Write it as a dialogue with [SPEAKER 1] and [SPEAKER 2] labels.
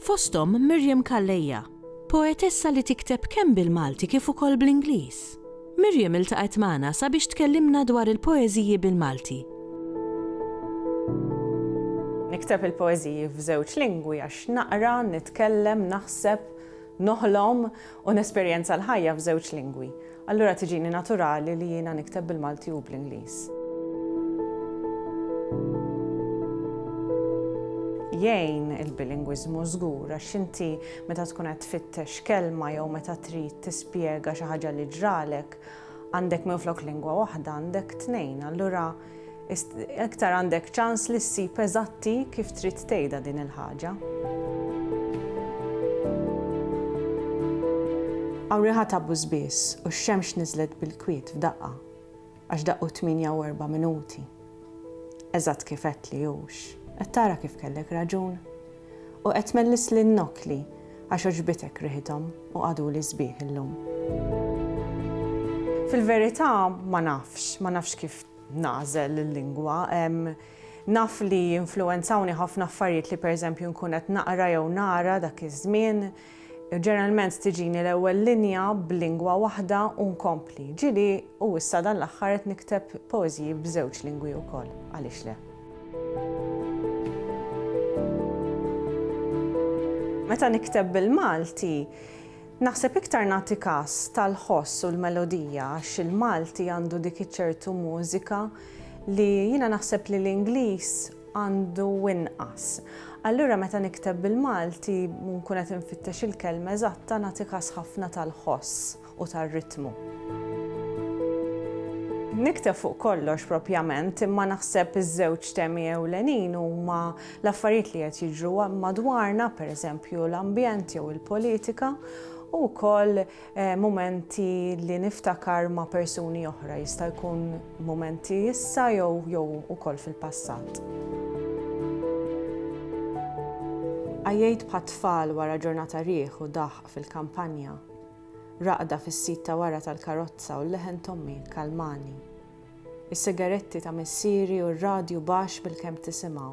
[SPEAKER 1] Fosthom Miriam Calleja, poetessa li tikteb kemm bil-Malti kif ukoll bl-Ingliż. Miriam iltaqgħet magħna sabiex tkellimna dwar il-poeżiji bil-Malti.
[SPEAKER 2] Nikteb il-poeżiji f'żewġ lingwi għax naqra, nitkellem, naħseb, noħlom U nesperjenza l-ħajja f'żewġ lingwi. Allura tiġini naturali li jiena nikteb bil-Malti u bl-Ingliż. Jgħin il-bilingwiżmu żgur għax inti meta tkun qed tfittex kelma jew meta trid tispjega xi ħaġa li ġralek, għandek minflok lingwa waħda għandek tnejn. Allura iktar għandek ċans li ssib eżatti kif trid tgħidha din il-ħaġa. Hawn riħa ta' bużbież u x-xemx niżlet bil-kwiet f'daqqa għax daqqu 48 minuti. Eżatt kif għedtli hux. Qed tara kif kellek raġun? U qed tmellis lin-nokli għax għoġbitek riħithom u qagħduli sbieħ illum. Fil-verità ma nafx, ma nafx kif nagħżel il-lingwa. Naf li jinfluwenzawni ħafna affarijiet li pereżempju nkun qed naqra jew nara dak iż-żmien, Ġeneralment tiġini l-ewwel linja b'lingwa waħda u nkompli. Ġieli u issa dan l-aħħar qed nikteb poeżiji b'żewġ lingwi wkoll, għaliex le? Meta nikteb bil-Malti, naħseb iktar nagħti kas tal-ħoss u l-melodija għax il-Malti għandu dik iċ-ċertu mużika li jiena naħseb li l-Ingliż għandu inqas. Allura meta nikteb bil-Malti u nkun qed infittex il-kelma eżatta nagħti każ ħafna tal-ħoss u tar-ritmu. Nikteb fuq kollox propjament, imma naħseb iż-żewġ temi ewlenin huma l-affarijiet li qed jiġru madwarna, pereżempju l-ambjent jew il-politika, u wkoll Mumenti li niftakar ma' persuni oħra, jista' jkun mumenti issa jew jew ukoll fil-passat. Għajjejt bħat-tfal wara ġurnata riħ u daħq fil-kampanja. Raqda fis-sit ta' wara tal-karozza u l-leħen t'ommi kkalmani. Is-sigaretti ta' missieri u r-radju baxx bilkemm tisimgħu.